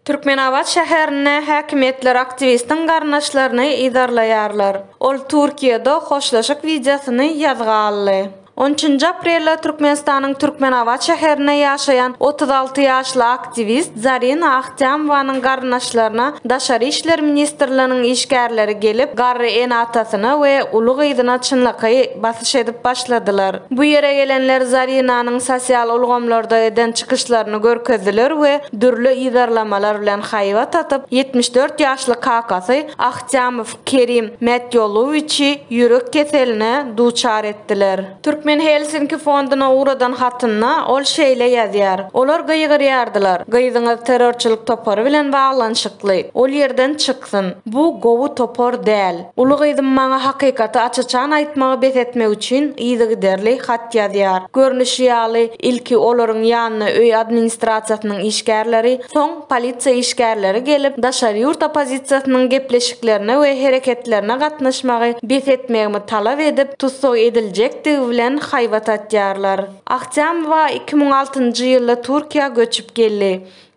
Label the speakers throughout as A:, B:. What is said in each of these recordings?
A: Türkmenabat şäherinde häkimiýetler aktiwistiň garyndaşlaryny yzarlaýarlar. Ol Türkiýede hoşlaşyk wideosyny ýazga aldy. On üçünji aprelde Türkmenistanyň Türkmenabat şäherinde ýaşaýan otuz alty ýaşly aktiwist Zarina Jamwanyň garyndaşlaryna Daşary işler ministrliginiň işgärleri gelip, garry ene-atasyna we uly gyzyna çynlakaý basyş edip başladylar. Bu ýere gelenler Zarinanyň sosial ulgamlarda eden çykyşlaryny görkezdiler we dürli yzarlamalar bilen haýbat atyp, ýetmiş dört ýaşly kakasy Ahtyýamow Kerim Mätýolowiçi ýürek keseline duçar etdiler. Türkmen Helsinki fonduna ugradan hatynda ol şeýle ýazýar, Olar gygyrýardylar, Gyzyňyz terrorçylyk topary bilen baglanyşykly, ol ýerden çyksyn. Bu gowy topar däl. Uly gyzym maňa hakykaty aç-açan aýtmagy bes etmek üçin yzygiderli hat ýazýar. Görnüşi ýaly, ilki olaryň ýanyna öý administrasiýasynyň işgärleri, soň, polisiýa işgärleri gelip, daşary ýurt oppozisiýasynyň gepleşiklerine we hereketlerine gatnaşmagy bes etmegimi talap edip, tussag ediljekdigi bilen haýbat atýarlar. Ahtýamowa iki müň altynjy ýylda Türkiýä göçüp geldi.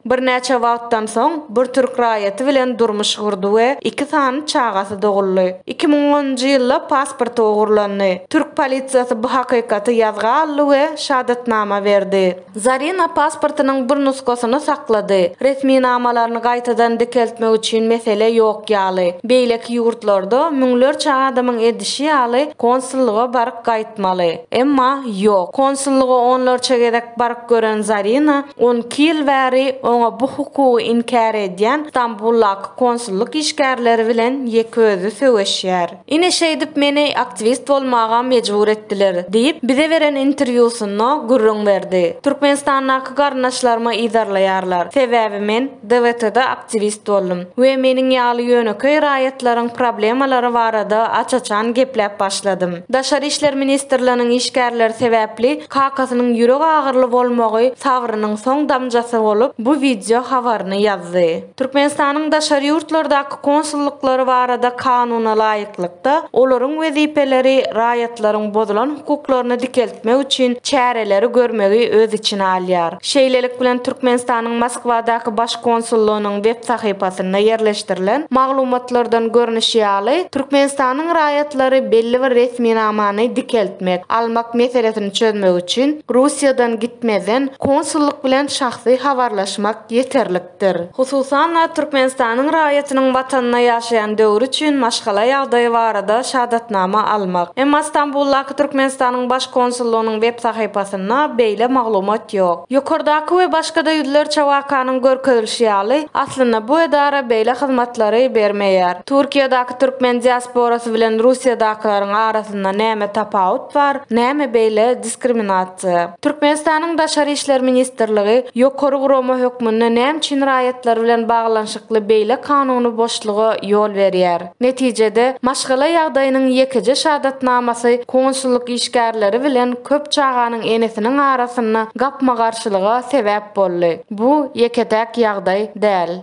A: Birnäçe wagtdan soň, bir türk raýaty bilen durmuş gurdy we iki sany çagasy doguldy. Iki müň onunjy ýylda pasporty ogurlandy. Türk polisiýasy bu hakykaty ýazga aldy we şadatnama berdi. Zarina pasportynyň bir nusgasyny saklady. Resminamalaryny gaýtadan dikeltmek üçin mesele ýok ýaly. Beýleki ýurtlarda, müňlerçe adamyň edişi ýaly, konsullyga baryp gaýtmaly. Emma, ýok. Konsullyga onlarça gezek baryp gören Zarina, on iki ýyl bäri oňa bu hukugy inkär edýän Stambuldaky konsullyk işgärleri bilen ýeke özi söweşýär. Ine şeýdip meni aktiwist bolmaga mejbur etdiler, diýip, bize beren interwýusynda gürrüň berdi. Türkmenistandaky garyndaşlaryma yzarlaýarlar, sebäbi men DWT-da aktiwist boldum we meniň ýaly ýönekeý raýatlaryň problemalary barada aç-açan gepläp başladym. Daşary işler ministrliginiň işgärleri sebäpli kakasynyň ýürek agyryly bolmagy sabrynyň soň damjasy bolup, bu wideo habaryny ýazdy. Türkmenistanyň daşary ýurtlardaky konsullyklary barada kanuna laýyklykda, olaryň wezipeleri raýatlaryň bozulan hukuklaryny dikeltmek üçin çäreleri görmegi öz içine alýar. Şeýlelik bilen, Türkmenistanyň Moskwadaky Baş konsullygynyň web sahypasynda ýerleşdirilen maglumatlardan görnüşi ýaly, Türkmenistanyň raýatlary belli bir resminamany dikeltmek, almak meselesini çözmek üçin Russiýadan gitmezden konsullyk bilen şahsy habarlaşmak ýeterlik. dir. Hususan-da, Türkmenistanyň raýatynyň Watanyna ýaşaýan döwri üçin maşgala ýagdaýy barada şahadatnama almak. Emma Stambuldaky Türkmenistanyň Baş konsullygynyň web sahypasynda beýle maglumat ýok. Ýokardaky we başga-da ýüzlerçe wakanyň görkezilişi ýaly, aslynda bu edara beýle hyzmatlary bermeýär. Türkiýedaky türkmen diasporasy bilen Russiýadakylaryň arasynda näme tapawut bar, näme beýle diskriminasiýa? Türkmenistanyň Daşary işler ministrligi ýokary gurama hökmünde näme üçin raýatlar bilen baglanyşykly beýle kanuny boşluga ýol berýär? Netijede, maşgala ýagdaýynyň ýekeje şahadatnamasy konsullyk işgärleri bilen köp çaganyň enesiniň arasynda gapma-garşylyga sebäp boldy. Bu ýeke-täk ýagdaý däl.